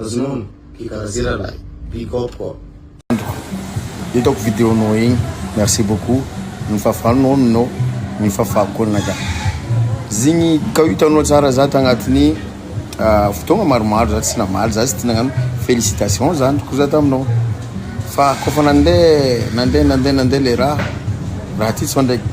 Azonona ki karazi ralahy big up koa. Andro, hitako video nao igny, merci beaucoup, nifafà nao aminao, nifafà koa naka zigny ka hitanao tsara za tagnatiny fotoagna maromaro za tsy namaly, za tsy tia nagnano félicitation za andriko za taminao fa kôfa nande nande nande nande le raha, raha ty sao ndraiky.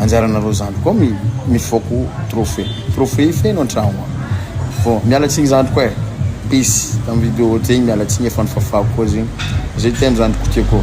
Anjaranareo zandry koa mi mifoako trophée. Trophée feno antragno ao. Bon, miala tsigny zandry koa eh. Peace. Tam video zegny miala tsigny efa nofafako koa zegny. Zay teny zandry kotia koa.